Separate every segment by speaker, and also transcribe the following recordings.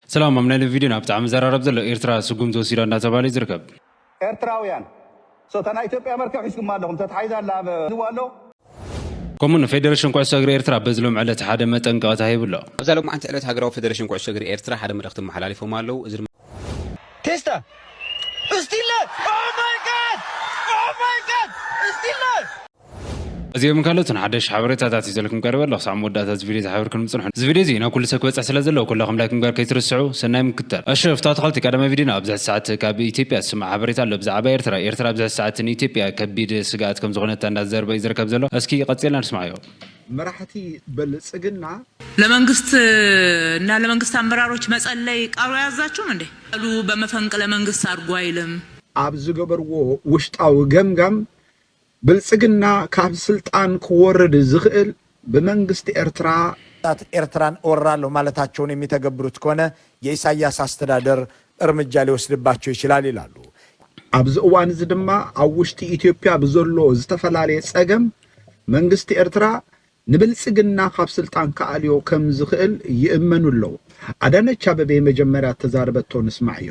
Speaker 1: ሰላም ኣብ ናይ ሎሚ ቪድዮና ብጣዕሚ ዝዘራረብ ዘሎ ኤርትራ ስጉምቲ ወሲዳ እንዳተባህለ እዩ ዝርከብ። ኤርትራውያን
Speaker 2: so እታ ናይ ኢትዮጵያ መርከብ ሒዝኩማ ኣለኹም ተታሒዛ ኣላ ኣብ ዝዋ ኣሎ።
Speaker 1: ከምኡ ንፌደረሽን ኩዕሶ እግሪ ኤርትራ በዚ ሎሚ ዕለት ሓደ መጠንቀቕታ ሂቡ ኣሎ። ኣብዛ ሎማዕንቲ ዕለት ሃገራዊ
Speaker 3: ፌደረሽን ኩዕሶ እግሪ ኤርትራ ሓደ መልእኽቲ ኣመሓላሊፎም ኣለዉ። እዚ ድማ።
Speaker 4: ቴስታ እስቲለ ኦህ ማይ ጋድ ኦህ ማይ ጋድ እስቲለ።
Speaker 1: እዚኦምን ካልኦትን ሓደሽቲ ሓበሬታታት ሒዘልኩም ቀሪበ ኣለኹ። ክሳዕ መወዳእታ እዚ ቪድዮ ዝሓበርክንም ጽንሑ። እዚ ቪድዮ እዚ ናብ ኩሉ ሰብ ክበጽሕ ስለ ዘለዎ ኩላኹም ላይክ ምግባር ከይትርስዑ። ሰናይ ምክትታል። እሺ እፍታው ኣትክልቲ ቀዳማይ ቪድዮና ኣብዚ ሕጂ ሰዓት ካብ ኢትዮጵያ ዝስማዕ ሓበሬታ ኣሎ ብዛዓባ ኤርትራ ኤርትራ ኣብዚ ሕጂ ሰዓት ንኢትዮጵያ ከቢድ ስጋኣት ከም ዝኾነታ እንዳ ተዛረበ እዩ ዝርከብ ዘሎ እስኪ ቀጺልና ንስማዓዮ። መራሕቲ
Speaker 5: በልጽግና። ለመንግስት
Speaker 6: እና ለመንግስት ኣመራሮች መጸለይ ቃሉ ኣያዛችሁም እንዴ? ቃሉ በመፈንቅለ መንግስት ኣርጉ ኣይልም። ኣብ ዝገበርዎ
Speaker 5: ውሽጣዊ ገምጋም ብልጽግና ካብ ስልጣን ክወርድ ዝኽእል ብመንግስቲ ኤርትራ። ታት ኤርትራን እወራለሁ ማለታቸውን የሚተገብሩት ከሆነ የኢሳያስ አስተዳደር እርምጃ ሊወስድባቸው ይችላል ይላሉ። ኣብዚ እዋን እዚ ድማ ኣብ ውሽጢ ኢትዮጵያ ብዘሎ ዝተፈላለየ ጸገም መንግስቲ ኤርትራ ንብልጽግና ካብ ስልጣን ክኣልዮ ከም ዝኽእል ይእመኑ ኣለው። ኣዳነች ኣበቤ መጀመርያ እተዛረበቶ ንስማዕዮ።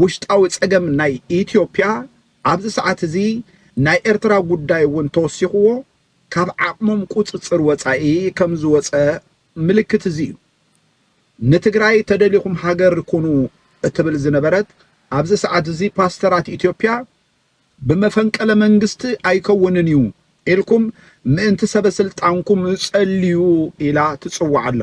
Speaker 5: ውሽጣዊ ጸገም ናይ ኢትዮጵያ ኣብዚ ሰዓት እዚ ናይ ኤርትራ ጉዳይ እውን ተወሲኽዎ ካብ ዓቕሞም ቁጽጽር ወጻኢ ከም ዝወጸ ምልክት እዚ እዩ። ንትግራይ ተደሊኹም ሃገር ኩኑ እትብል ዝነበረት ኣብዚ ሰዓት እዚ ፓስተራት ኢትዮጵያ ብመፈንቀለ መንግስቲ ኣይከውንን እዩ ኢልኩም ምእንቲ ሰበስልጣንኩም ጸልዩ ኢላ ትጽውዕ ኣላ።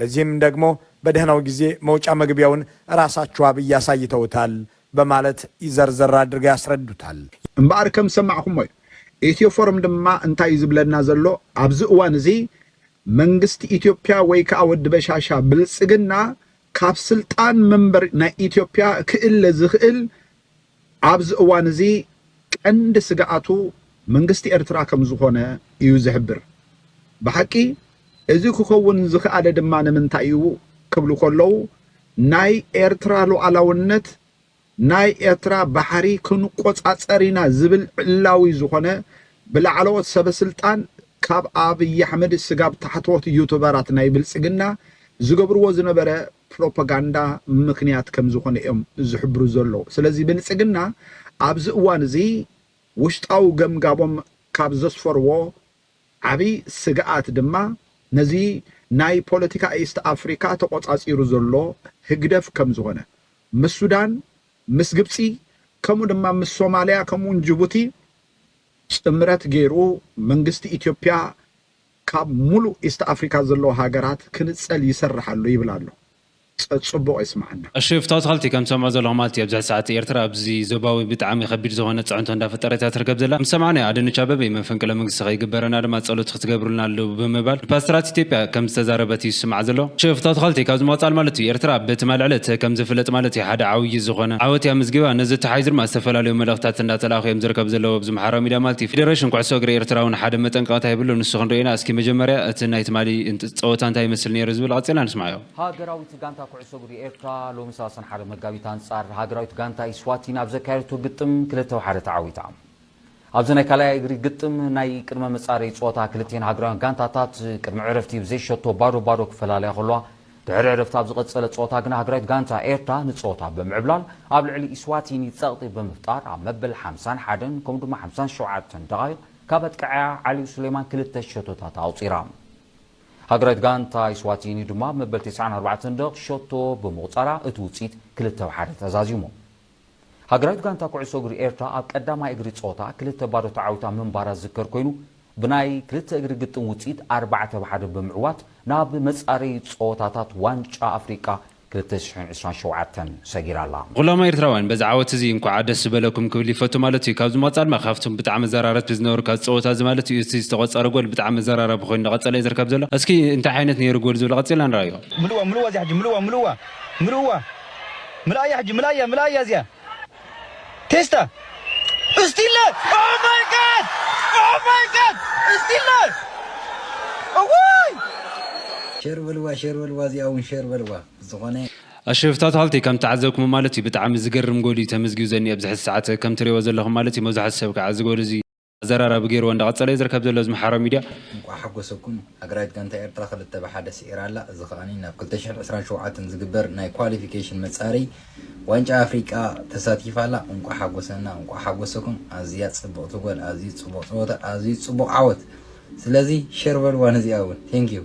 Speaker 4: ለዚህም ደግሞ በደህናው ጊዜ መውጫ መግቢያውን እራሳቸው አብይ አሳይተውታል በማለት ዘርዘር አድርገው ያስረዱታል። እምበኣር ከም
Speaker 5: ዝሰማዕኹሞ'ዩ። ኢትዮፎርም ድማ እንታይ እዩ ዝብለና ዘሎ ኣብዚ እዋን እዚ መንግስቲ ኢትዮፕያ ወይ ከኣ ወዲ በሻሻ ብልጽግና ካብ ስልጣን መንበር ናይ ኢትዮፕያ ክእለ ዝኽእል ኣብዚ እዋን እዚ ቀንዲ ስግኣቱ መንግስቲ ኤርትራ ከም ዝኾነ እዩ ዝሕብር። ብሓቂ እዚ ክኸውን ዝኽኣለ ድማ ንምንታይ እዩ ክብሉ ከለዉ ናይ ኤርትራ ሉኣላውነት፣ ናይ ኤርትራ ባሕሪ ክንቆጻጸር ኢና ዝብል ዕላዊ ዝኾነ ብላዕለዎት ሰበስልጣን ካብ ኣብይ ኣሕመድ ስጋብ ታሕተዎት ዩቱበራት ናይ ብልጽግና ዝገብርዎ ዝነበረ ፕሮፓጋንዳ ምኽንያት ከም ዝኾነ እዮም ዝሕብሩ ዘለዉ። ስለዚ ብልፅግና ኣብዚ እዋን እዚ ውሽጣዊ ገምጋቦም ካብ ዘስፈርዎ ዓብይ ስግኣት ድማ ነዚ ናይ ፖለቲካ ኢስት ኣፍሪካ ተቖፃፂሩ ዘሎ ህግደፍ ከም ዝኾነ ምስ ሱዳን፣ ምስ ግብፂ ከምኡ ድማ ምስ ሶማሊያ ከምኡ እውን ጅቡቲ ጥምረት ገይሩ መንግስቲ ኢትዮጵያ ካብ ሙሉእ ኢስት ኣፍሪካ ዘለዉ ሃገራት ክንፀል ይሰርሕ ኣሎ ይብል ኣሎ ፀፅቡቅ የስመዓና። ኣሺ ፍትው ተኸልቲ ከም
Speaker 1: ትሰምዖ ዘለኹም ኣቲ ኣብዚ ሕዚ ሰዓት ኤርትራ ኣብዚ ዞባዊ ብጣዕሚ ከቢድ ዝኾነ ጽዕንቶ እንዳ ፈጠረት እያ ትርከብ ዘላ ምስ ሰማዕናዮ ኣደነች ኣበቤ መፈንቅለ መንግስቲ ከይግበረና ድማ ጸሎት ክትገብሩልና ኣለቡ ብምባል ንፓስተራት ኢትዮጵያ ከም ዝተዛረበት እዩ ዝስማዕ ዘሎ ኣሺ ፍትው ተኸልቲ ካብዚ ምቕጻል ማለት እዩ ኤርትራ በቲ ማል ዕለት ከም ዝፍለጥ ማለት እዩ ሓደ ዓውዪ ዝኾነ ዓወት እያ ኣመዝጊባ ነዚ ኣተሓሒዙ ድማ ዝተፈላለዩ መልእኽትታት እንዳ ተላኣኹ እዮም ዝርከቡ ዘለዉ ምሓራዊ ሚድያ ማልቲ ፊደረሽን ኩዕሶ እግሪ ኤርትራውን ሓደ መጠንቀቕታ የብሉን ንሱ ክንሪኦ ኢና እስኪ መጀመርያ እቲ ናይ ትማሊ ጸወታ እንታይ ይመስል ኔሩ ዝብል ቐጺልና ንስምዓዮ። ሃገራዊት ጋንታ
Speaker 7: ኩዕሶ እግሪ ኤርትራ ሎሚ ሰላሳን ሓደ መጋቢት ኣንጻር ሃገራዊት ጋንታ ኢስዋቲኒ ኣብ ዘካየደቶ ግጥም ክልተ ሓደ ተዓዊታ። ኣብዚ ናይ ካልኣይ እግሪ ግጥም ናይ ቅድመ መጻረዪ ጸወታ ክልቲኤን ሃገራውያን ጋንታታት ቅድሚ ዕረፍቲ ብዘይ ሸቶ ባዶ ባዶ ክፈላለያ ከለዋ፣ ድሕሪ ዕረፍቲ ኣብ ዝቐጸለ ጸወታ ግና ሃገራዊት ጋንታ ኤርትራ ንጸወታ ብምዕብላል ኣብ ልዕሊ ኢስዋቲኒ ጸቕጢ ብምፍጣር ኣብ መበል ሓምሳን ሓደን ከምኡ ድማ ሓምሳን ሸውዓተን ደቓይቕ ካብ ኣጥቃዓያ ዓሊ ሱሌማን ክልተ ሸቶታት ኣቑጺራ። ሃገራዊት ጋንታ ኢስዋቲኒ ድማ ኣብ መበል ተስዓን ኣርባዕተን ደቕ ሸቶ ብምቑጻራ እቲ ውጽኢት ክልተ ብ ሓደ ተዛዚሙ። ሃገራዊት ጋንታ ኩዕሶ እግሪ ኤርትራ ኣብ ቀዳማይ እግሪ ጸወታ ክልተ ባዶ ተዓዊታ ምንባራ ዝዝከር ኮይኑ፣ ብናይ ክልተ እግሪ ግጥም ውጽኢት ኣርባዕተ ብ ሓደ ብምዕዋት ናብ መጻረዪ ጸወታታት ዋንጫ ኣፍሪቃ ክልተ ሽሕን ዕስራን ሸውዓተን ሰጊራ ኣላ። ኹሎም ኤርትራውያን
Speaker 1: በዚ ዓወት እዚ እንኳዓ ደስ በለኩም ክብል ይፈቱ ማለት እዩ ካብዚ ብምቅጻል ድማ ካብቶም ብጣዕሚ መዘራረቲ ዝነበሩ ካብዚ ጸወታ እዚ ማለት እዩ እቲ ዝተቆጸረ ጎል ብጣዕሚ መዘራረቢ ኮይኑ እንዳቀጸለ እዩ ዝርከብ ዘሎ እስኪ እንታይ ዓይነት ነይሩ ጎል ዝብሎ ቀጺልና ንርኣዮ። ምልእዋ ምልእዋ እዚኣ ሕጂ ምልእዋ
Speaker 8: ምልእዋ ምልእዋ። ምላእያ ሕጂ ምላእያ ምላእያ እዚኣ ቴስታ እስቲለ ኦማይጋድ ኦማይጋድ እስቲለ እዋይ
Speaker 9: ሸር በልዋ ሸር በልዋ እዚኣ ውን ሸር በልዋ ብዝኾነ። ኣሽፍ ታታልቲ
Speaker 1: ከም ተዓዘብክሞ ማለት እዩ ብጣዕሚ ዝገርም ጎል እዩ ተመዝጊቡ ዘኒኦ ኣብዚ ሕዚ ሰዓት ከም ትሪእዎ ዘለኹም ማለት እዩ መብዛሕትኡ ሰብ ካዓ እዚ ጎል እዚ ኣዘራራቢ ገይርዎ እንዳቀጸለ ዩ ዝርከብ ዘሎ እዚ ምሓሮ ሚድያ። እንቋዕ ሓጎሰኩም
Speaker 9: ሃገራዊት ጋንታ ኤርትራ ክልተ ብ ሓደ ስዒራ ኣላ እዚ ከኣ ናብ ክልተ ሽሕን ዕስራን ሸውዓተን ዝግበር ናይ ኳሊፊኬሽን መጻረይ ዋንጫ ኣፍሪቃ ተሳቲፋ ኣላ እንቋዕ ሓጎሰና እንቋዕ ሓጎሰኩም ኣዝያ ጽብቕቲ ጎል ኣዝዩ ጽቡቕ ጸወታ ኣዝዩ ጽቡቕ ዓወት ስለዚ ሸር በልዋ ነዚኣ ውን Thank you።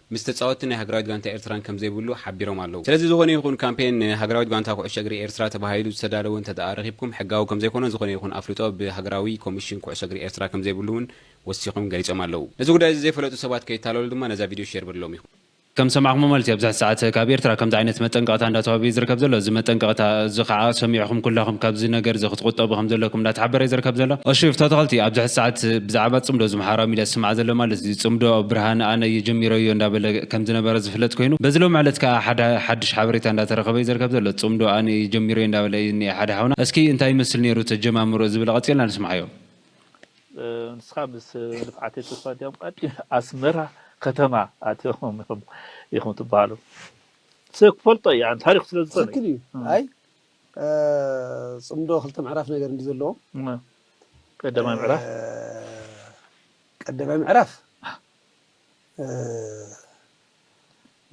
Speaker 3: ምስ ተጻወትቲ ናይ ሃገራዊት ጋንታ ኤርትራን ከምዘይብሉ ሓቢሮም ኣለዉ። ስለዚ ዝኾነ ይኹን ካምፔን ንሃገራዊት ጋንታ ኩዕሶ እግሪ ኤርትራ ተባሂሉ ዝተዳለወ እንተድኣ ረኺብኩም ሕጋዊ ከምዘይኮነን ዝኾነ ይኹን ኣፍልጦ ብሃገራዊ ኮሚሽን ኩዕሶ እግሪ ኤርትራ ከምዘይብሉ ውን ወሲኾም ገሊጾም ኣለዉ። ነዚ ጉዳይ እዚ ዘይፈለጡ ሰባት ከይታለሉ ድማ ነዛ ቪድዮ ሼር በልሎም ኢኹም። ከም ዝሰማዕኩሞ ማለት እዩ
Speaker 1: ኣብዚ ሕዚ ሰዓት ካብ ኤርትራ ከምዚ ዓይነት መጠንቀቕታ እንዳተዋህበ እዩ ዝርከብ ዘሎ እዚ መጠንቀቕታ እዚ ካዓ ሰሚዕኹም ኩላኹም ካብዚ ነገር እዚ ክትቁጠቡ ከምዘለኩም እንዳተሓበረ እዩ ዝርከብ ዘሎ እሺ ፍትወተኸልቲ ኣብዚ ሕዚ ሰዓት ብዛዓባ ጽምዶ ማሕበራዊ ሚድያ ዝስማዕ ዘሎ ማለት እዚ ጽምዶ ብርሃነ ኣነ እየ ጀሚረዮ እንዳበለ ከም ዝነበረ ዝፍለጥ ኮይኑ በዚ ሎሚ ዕለት ከኣ ሓደ ሓድሽ ሓበሬታ እንዳተረኸበ እዩ ዝርከብ ዘሎ ጽምዶ ኣነ እየ ጀሚረዮ እንዳበለ እዩ ዝኒኤ ሓደ ሓውና እስኪ እንታይ ይመስል ኔሩ ተጀማምርኡ ዝብል ቐጺልና ንስምዓዮ።
Speaker 10: ንስኻ ምስ ንፍዓተይ ተስፋ እንዲያውም ቀዲም ኣስመራ ከተማ ኣትዮም ኢኹም ኢኹም ትበሃሉ ሰብ ክፈልጦ እዩ ኣን ታሪኹ ስለ ዝኾነ ትክክል እዩ ኣይ
Speaker 11: ጽምዶ ክልተ ምዕራፍ ነገር እንድዩ ዘለዎም።
Speaker 10: ቀዳማይ ምዕራፍ
Speaker 11: ቀዳማይ ምዕራፍ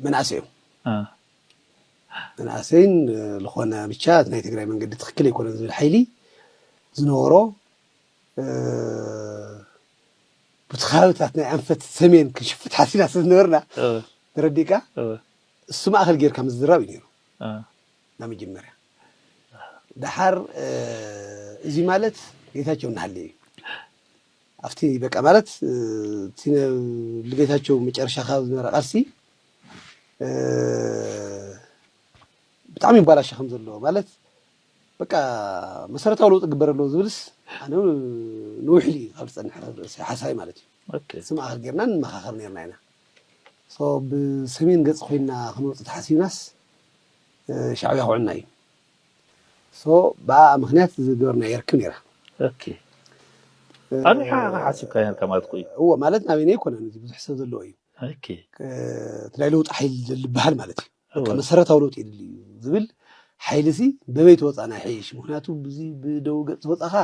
Speaker 11: መናእሰይ እዮም መናእሰይን ዝኾነ ብቻ ናይ ትግራይ መንገዲ ትክክል ኣይኮነን ዝብል ሓይሊ ዝነበሮ ብቲ ከባቢታት ናይ ኣንፈት ሰሜን ክንሽፍት ሓሲና ስለዝነበርና ተረዲእካ እሱ ማእኸል ጌርካ ምዝራብ እዩ ነይሩ ናብ መጀመርያ ደሓር እዚ ማለት ጌታቸው እናሃለየ እዩ ኣብቲ በቃ ማለት እቲ ንጌታቸው መጨረሻ ካብ ዝነበረ ቃልሲ ብጣዕሚ ይባላሸ ከም ዘሎ ማለት በቃ መሰረታዊ ለውጢ ግበር ኣለዎ ዝብልስ ኣነ ንውሕሊ እዩ ካብ ዝፀንሐ ርእሰ ሓሳቢ ማለት እዩ ስማእኸል ጌርና ንመኻኸር ነርና ኢና ብሰሜን ገፅ ኮይና ክንወፅ ተሓሲብናስ ሻዕብያ ክውዕልና እዩ ሶ ብኣኣ ምክንያት ዝገበርናዮ ርክብ ነይራ
Speaker 10: ኦኬ ኣንዊሓ ኢኻ ሓሲብካ ነርካ ማለት እኮ እዩ እዎ ማለት ናበይና
Speaker 11: ኣይኮነን እዚ ብዙሕ ሰብ ዘለዎ እዩ ኦኬ
Speaker 10: እቲ ናይ
Speaker 11: ለውጢ ሓይሊ ዝበሃል ማለት እዩ በቃ እወ መሰረታዊ ለውጢ የድሊ እዩ ዝብል ሓይሊ ሲ በበይ ተወፃእና ይሐይሽ ምክንያቱ ብዚ ብደው ገፅ ዝወፃኻ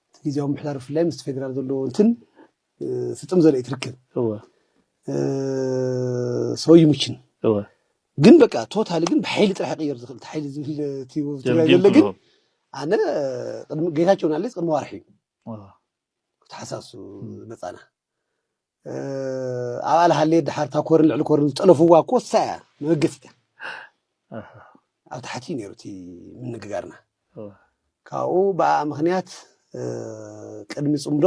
Speaker 11: እቲ ግዜያዊ ምሕዳር ብፍላይ ምስ ፌደራል ዘለዎ እንትን ፍጥም ዘርኢ ትርክብ ሰው ይሙችን ግን በቃ ቶታሊ ግን ብሓይሊ ጥራሕ ቅየር ዝኽእል ሓይሊ ዝብል ትግራይ ዘሎ ግን ኣነ ጌታቸው ናለስ ቅድሚ ዋርሒ እዩ ተሓሳሱ መፃና ኣብ ኣልሃሌ ድሓር እታ ኮርን ልዕሊ ኮርን ዝጠለፍዋ እኮ እሳ እያ መበገሲት እያ ኣብ ታሕቲ እዩ ነይሩ እቲ ምንግጋርና ካብኡ ብኣኣ ምኽንያት ቅድሚ ፅምዶ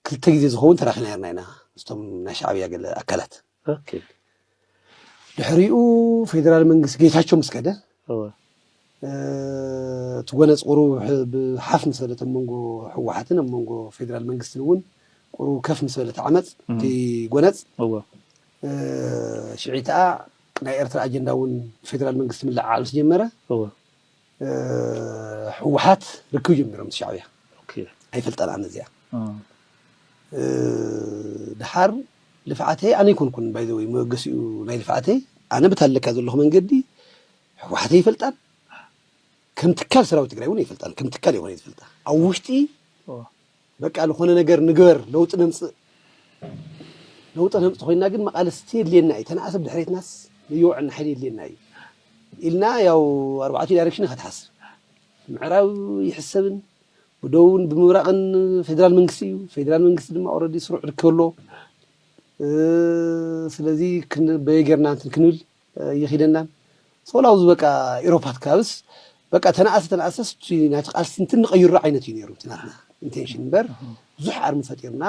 Speaker 11: ክልተ ግዜ ዝኸውን ተራኺና ነይርና ኢና ምስቶም ናይ ሻዕብያ ገለ ኣካላት። ድሕሪኡ ፌደራል መንግስቲ ጌታቸው ምስ ከደ እቲ ጎነፅ ቁሩብ ብሓፍ ምስ በለት ኣብ መንጎ ህወሓትን ኣብ መንጎ ፌደራል መንግስትን እውን ቁሩብ ከፍ ምስ በለት ዓመፅ እቲ ጎነፅ ሽዒ ከዓ ናይ ኤርትራ ኣጀንዳ እውን ፌደራል መንግስቲ ምልዕዓል ምስ ጀመረ ህወሓት ርክብ ጀሚሮም ምስ ሻዕብያ ኣይፈልጠናን እዚኣ ድሓር ልፍዓተይ ኣነ ኣይኮንኩን ባይዘወይ መበገሲኡ ናይ ልፍዓተይ ኣነ በቲ ኣለካ ዘለኹ መንገዲ ህወሓተይ ይፈልጣን ከም ትካል ሰራዊት ትግራይ እውን ይፈልጣን ከም ትካል ይኾነ ዝፈልጣ ኣብ ውሽጢ በቃ ልኾነ ነገር ንግበር ለውጢ ነምፅእ ለውጢ ነምፅእ ኮይና ግን መቓልስቲ የድልየና እዩ ተነኣስ ኣብ ድሕሬትናስ ለየውዐልና ሓይሊ የድልየና እዩ ኢልና ያው ኣርባዕቱ ዳይሬክሽን ኢኻ ትሓስብ ምዕራብ ይሕሰብን ብደቡብን ብምብራቕን ፌዴራል መንግስቲ እዩ ፌዴራል መንግስቲ ድማ ኦልሬዲ ስሩዕ ርክብ ኣሎ ስለዚ ክንበየ ጌርና እንትን ክንብል የኺደናን ጾላው ዝበቃ ኢሮፓት ክኣብስ በቃ ተነኣሰ ተነኣሰስ እቲ ናይቲ ቃልሲ እንትን ንቐይሮ ዓይነት እዩ ነይሩ እቲ ናትና ኢንቴንሽን እምበር ብዙሕ ኣርሚ ፈጢርና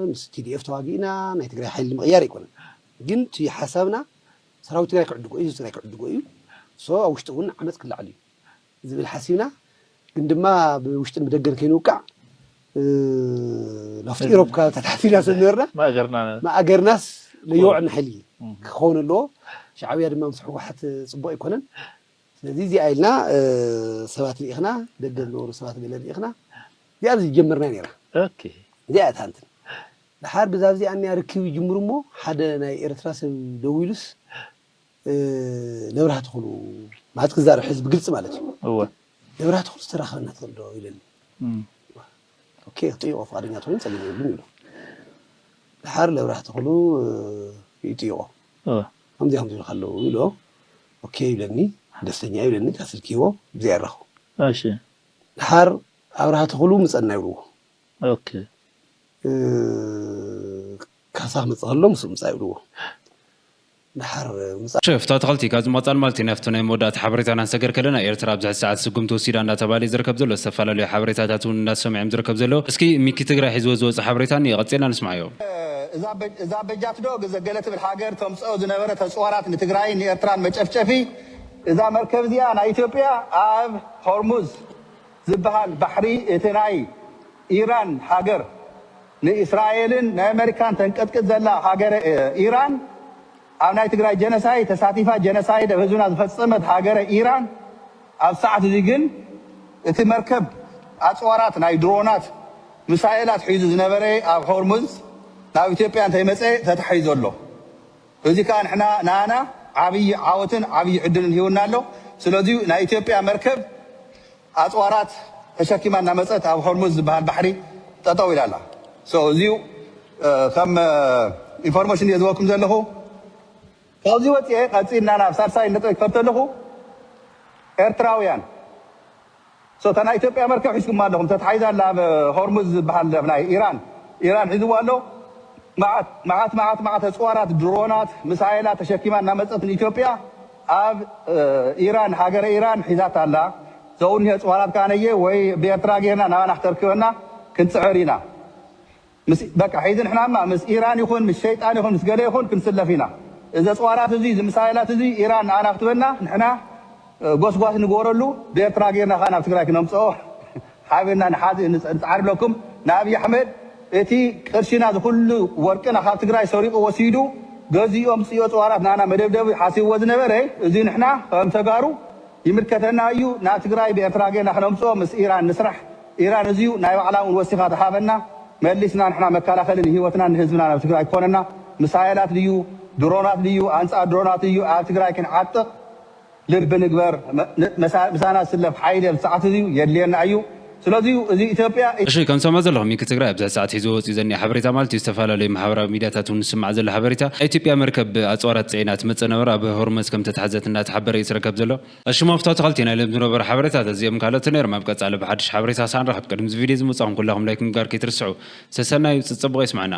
Speaker 11: ምስ ቲዲኤፍ ተዋጊእና ናይ ትግራይ ሓይሊ ንምቕያር ኣይኮነን ግን እቲ ሓሳብና ሰራዊት ትግራይ ክዕድጎ እዩ ህዝቢ ትግራይ ክዕድጎ እዩ ሶ ኣብ ውሽጢ እውን ዓመፅ ክለዓል እዩ ዝብል ሓሲብና ግን ድማ ብውሽጥን ብደገን ከይንውቃዕ ናብቲ ኢሮብ ከባቢታት ሓሲብና ስለ ዝነበርና ማእገርናስ ለይወዕል ንሓይሊ ክኸውን ኣለዎ። ሻዕብያ ድማ ምስ ህወሓት ፅቡቕ ኣይኮነን። ስለዚ እዚኣ ኢልና ሰባት ልኢኽና፣ ደገ ዝነበሩ ሰባት ገለ ልኢኽና እዚኣ ዝጀመርናያ ነይራ። እዚኣ እታ እንትን ደሓር ብዛብዚኣ እኒኣ ርክብ ይጅምሩ እሞ ሓደ ናይ ኤርትራ ሰብ ደዊሉስ ነብራህ ትኹሉ ማለት ክዛረብ ሕዚ ብግልፂ ማለት እዩ እወ ነብራህ ትኹሉ ዝተራኸበና ትኽእል ዶ ኢለኒ ኦኬ ክጥይቆ ፍቃደኛ ተኮይኑ ፀገም የብሉን ኢሉ ድሓር ነብራህ ትኹሉ ይጥይቆ ከምዚ ከምዚ ኢልካ ኣለዉ ኢሎ ኦኬ ይብለኒ ደስተኛ እዩ ይብለኒ ስልኪ ሂቦ ብዘይ ኣራኹ ድሓር ኣብርሃ ትኹሉ ምፀና ይብልዎ ካሳ ክመፅእ ከሎ ምስ ምፃ ይብልዎ ድሓር ምጻ። ሸፍ
Speaker 1: ታትኸልቲ ካብዚ ምቕጻል ማልቲ ናብቲ ናይ መወዳእታ ሓበሬታ ኢና ክንሰገር ከለና ኤርትራ ኣብዚ ሕዚ ሰዓት ስጉምቲ ወሲዳ እንዳተባህለ እዩ ዝርከብ ዘሎ ዝተፈላለዩ ሓበሬታታት እውን እንዳተሰምዑ እዮም ዝርከብ ዘለዉ እስኪ ሚኪ ትግራይ ሒዝዎ ዝወጸ ሓበሬታ እኒኦ ቀጺልና ንስምዓዮ። እዛ
Speaker 2: በጃት ዶ ግዘ ገለ ትብል ሃገር ተምጽኦ ዝነበረ ተጽዋራት ንትግራይን ንኤርትራን መጨፍጨፊ እዛ መርከብ እዚኣ ናይ ኢትዮጵያ ኣብ ሆርሙዝ ዝብሃል ባሕሪ እቲ ናይ ኢራን ሃገር ንእስራኤልን ናይ ኣመሪካን ተንቀጥቅጥ ዘላ ሃገረ ኢራን ኣብ ናይ ትግራይ ጀነሳይድ ተሳቲፋ ጀነሳይድ ኣብ ህዝብና ዝፈጸመት ሃገረ ኢራን ኣብዚ ሰዓት እዚ ግን እቲ መርከብ ኣጽዋራት ናይ ድሮናት ምሳኤላት ሒዙ ዝነበረ ኣብ ሆርሙዝ ናብ ኢትዮጵያ እንተይመጸ ተታሒዙ ኣሎ እዚ ከኣ ንሕና ንኣና ዓብይ ዓወትን ዓብይ ዕድልን ሂቡና ኣሎ ስለዚ ናይ ኢትዮጵያ መርከብ ኣጽዋራት ተሸኪማ እናመጸት ኣብ ሆርሙዝ ዝበሃል ባሕሪ ጠጠው ኢላ ኣላ so እዚዩ ከም ኢንፎርሞሽን እየ ዝህበኩም ዘለኹ ካብዚ ወጽየ ቀጺልና ናብ ሳልሳይ ነጥበይ ክኸድ ተለኹ ኤርትራውያን so እታ ናይ ኢትዮጵያ መርከብ ሒዝኩማ ኣለኹም ተታሒዛ ኣላ ኣብ ሆርሙዝ ዝበሃል ኣብ ናይ ኢራን ኢራን ሒዝዋ ኣሎ መዓት መዓት መዓት መዓት ኣጽዋራት ድሮናት ምሳኤላት ተሸኪማ እናመጸት ንኢትዮጵያ ኣብ ኢራን ሃገረ ኢራን ሒዛታ ኣላ ዘውንሄ ጽዋራት ከኣ ነየ ወይ ብኤርትራ ጌርና ናባና ክተርክበና ክንጽዕር ኢና ምስ በቃ ሒዚ ንሕና እማ ምስ ኢራን ይኹን ምስ ሸይጣን ይኹን ምስ ገለ ይኹን ክንስለፍ ኢና እዚ ኣጽዋራት እዚ እዚ ምሳይላት እዚ ኢራን ናባና ክትበና ንሕና ጎስጓስ ንግበረሉ ብኤርትራ ጌርና ከኣ ናብ ትግራይ ክነምጽኦ ሓቢርና ንሓዝእ ንፀንፀዓር እብለኩም ንኣብይ ኣሕመድ እቲ ቅርሽና ዝኩሉ ወርቅና ካብ ትግራይ ሰሪቁ ወሲዱ ገዚኡ ኣምፂኦ ፅዋራት ናና መደብደቢ ሓሲብዎ ዝነበረ እዙይ ንሕና ከም ተጋሩ ይምልከተና እዩ ናብ ትግራይ ብኤርትራ ገይርና ክነምፅኦ ምስ ኢራን ንስራሕ ኢራን እዙይ ናይ ባዕላ እውን ወሲካ ዝሃበና መሊስና ንሕና መካላከሊ ንሂወትናን ንህዝብናን ኣብ ትግራይ ክኮነና ምሳየላት ልዩ ድሮናት ልዩ ኣንፃር ድሮናት እዩ ኣብ ትግራይ ክንዓጥቅ ልቢ ንግበር ምሳና ስለፍ ሓይሊ ኣብዚ ሰዓት እዚ የድልየና እዩ ስለዚ እዚ ኢትዮጵያ። እሺ ከም ትሰምዑ ዘለኹም
Speaker 1: ሚኪ ትግራይ ኣብዚ ሕዚ ሰዓት ሒዝዎ ወፂኡ ዘኒኦ ሓበሬታ ማለት እዩ ዝተፈላለዩ ማሕበራዊ ሚድያታት እውን ዝስማዕ ዘሎ ሓበሬታ ናይ ኢትዮጵያ መርከብ ብ ኣፅዋራት ፅዒና ትመፅእ ነበረ ኣብ ሆርመዝ ከም ተታሕዘት እናተሓበረ እዩ ዝርከብ ዘሎ እሺ ሞፍ ተትኸልቲ ናይ ሎሚ ዝነበሩ ሓበሬታት እዚኦምን ካልኦትን ነይሮም ኣብ ቀፃሊ ብሓዱሽ ሓበሬታ ክሳዕ ንራኸብ ቅድሚ እዚ ቪድዮ እዚ ምውፃኹም ኩላኹም ላይክ ምግባር ከይትርስዑ ሰሰናዩ ፅፅቡቕ የስመዐና።